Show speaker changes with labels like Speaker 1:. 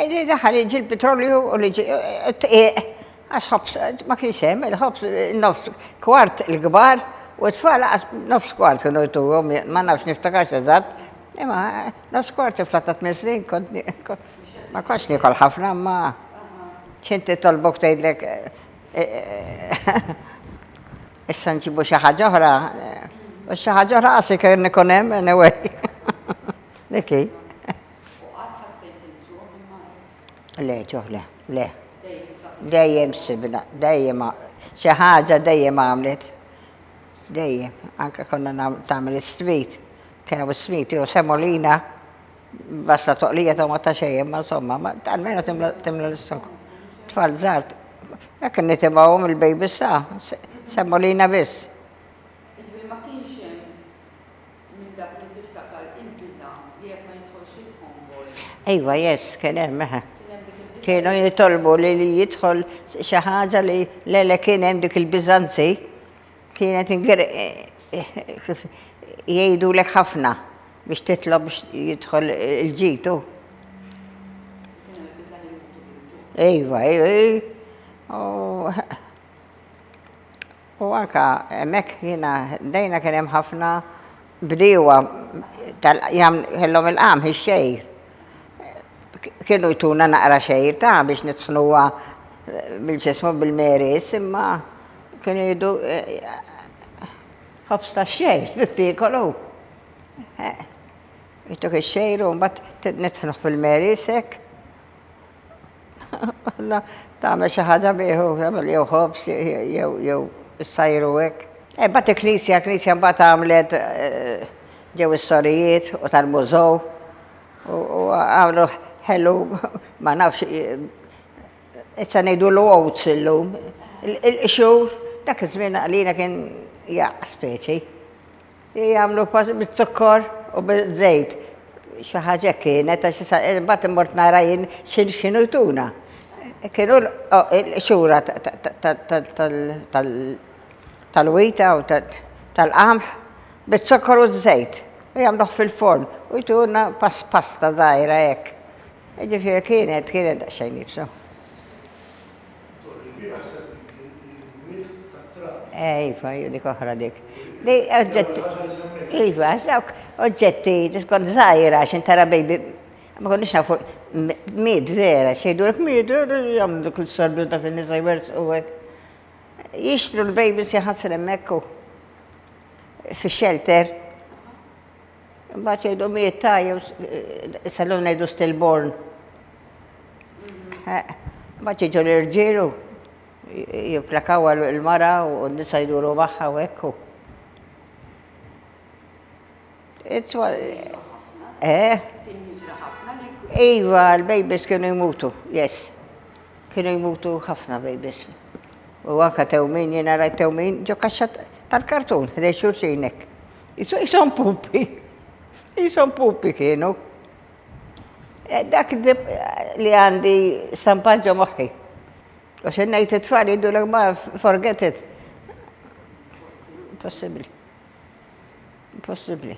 Speaker 1: Li daħal jiġi l-petrolju u li t-tqiq, għax ħobs ma kienx hemm, il-ħobs nofs kwart il-kbar u t-tfal nofs kwart kienu jtuhom, ma nafx niftakarx eżatt, imma nofs kwart tifla ta' tmien snin kont ma kontx niekol ħafna imma x'int titolbok tgħidlek issa nġibu xi ħaġa oħra u xi ħaġa oħra qas kien ikun hemm anyway. Dik hi. U qatt ħassejt il-ġuħ imma hekk? Le, ġuħ le, le. Dejjem saħħitha. Dejjem sibna, dejjem xi ħaġa dejjem għamlet. Dejjem, anke konna nagħmlu tagħmel is-sweet, kienem is-sweet jew semolina, basta toqlija ta' ma ta' xejn, imma insomma, ma almenu timla l-istok. Tfal żgħar, hekk nitimgħuhom il-baby sa, semolina biss. Jiġifieri ma
Speaker 2: kienx hemm minn dak li tiftakar il-biża' li jekk ma jidħolx il-konvoj. Iva, yes,
Speaker 1: kien hemm, eħe. Kien hemm dik il-biża'. Kienu jitolbu li jidħol xi ħaġa li le le kien hemm dik il-biża' anzi kienet jgħidulek ħafna biex titlob biex jidħol il-ġitu. Kien hemm il-biża' li jmutu bil-ġuħ. Iva, iva, iva. U anke hemmhekk jiena ħdejna kien hemm ħafna bdiewa tal kellhom il-qamħ, ix-xgħir. Kienu jtuna naqra xgħir ta' biex nitħnuha bil-x'ismu bil-meris imma kienu jgħidu ħobż tax-xgħir trid tiekolu. Jtuk ix-xgħir u mbagħad nitħnuh fil-meris hekk. Alla tagħmel xi ħaġa bih u tagħmel jew ħobż jew jew issajru hekk. E bat il-Knisja, il-Knisja mbagħad għamlet eh, ġew is-sorijiet u tal-mużow u għamlu ħelu ma nafx eh, issa ngħidu l oats illum. Il-qxur dak iż-żmien għalina kien jaq speċi. Jagħmlu pass biz-zukkor u biż-żejt. Xi ħaġa hekk kienet għax issa imbagħad immort nara jien x'kienu jtuna. Kienu l-qxura tal-wita u tal-qamħ biz-zukkor u ż-żejt u jagħmluh fil-forn u jtuna pasta żgħira hekk. Jiġifieri kienet kienet daqsxejn iebsa. Torri l-bieraħ semmejtli l-imwiet tat-trabi. Eh, iva, hija dik oħra dik. Di oġġetti. Ħaġa li semmejt. Iva, dawk oġġetti, kont żgħira x'in tara baby. Ma konniex nafu miet vera, xejdulek miet, jagħmlu dik l-sordu ta' fin-nisa jwersqu hekk. Jixtru l-babies jaħasru hemmhekk fix-shelter. Imbagħad jgħidu mieta jew issa l ngħidu stillborn. Imbagħad jiġu l-irġiel u jimplakaw għal il-mara u n-nisa jduru magħha u hekk. Eh? Iva, l-babies kienu jmutu, yes. Kienu jmutu ħafna babies. U anka tewmin, jena rajt tewmin, ġo kaxxa tal-kartun, ħdej xurxinek. Ishom pupi. Ishom pupi kienu. Eh, dak li għandi stampat ġo moħħi. Għax innejt it-tfal jiddu l ma forget it. Possibli. Possibli.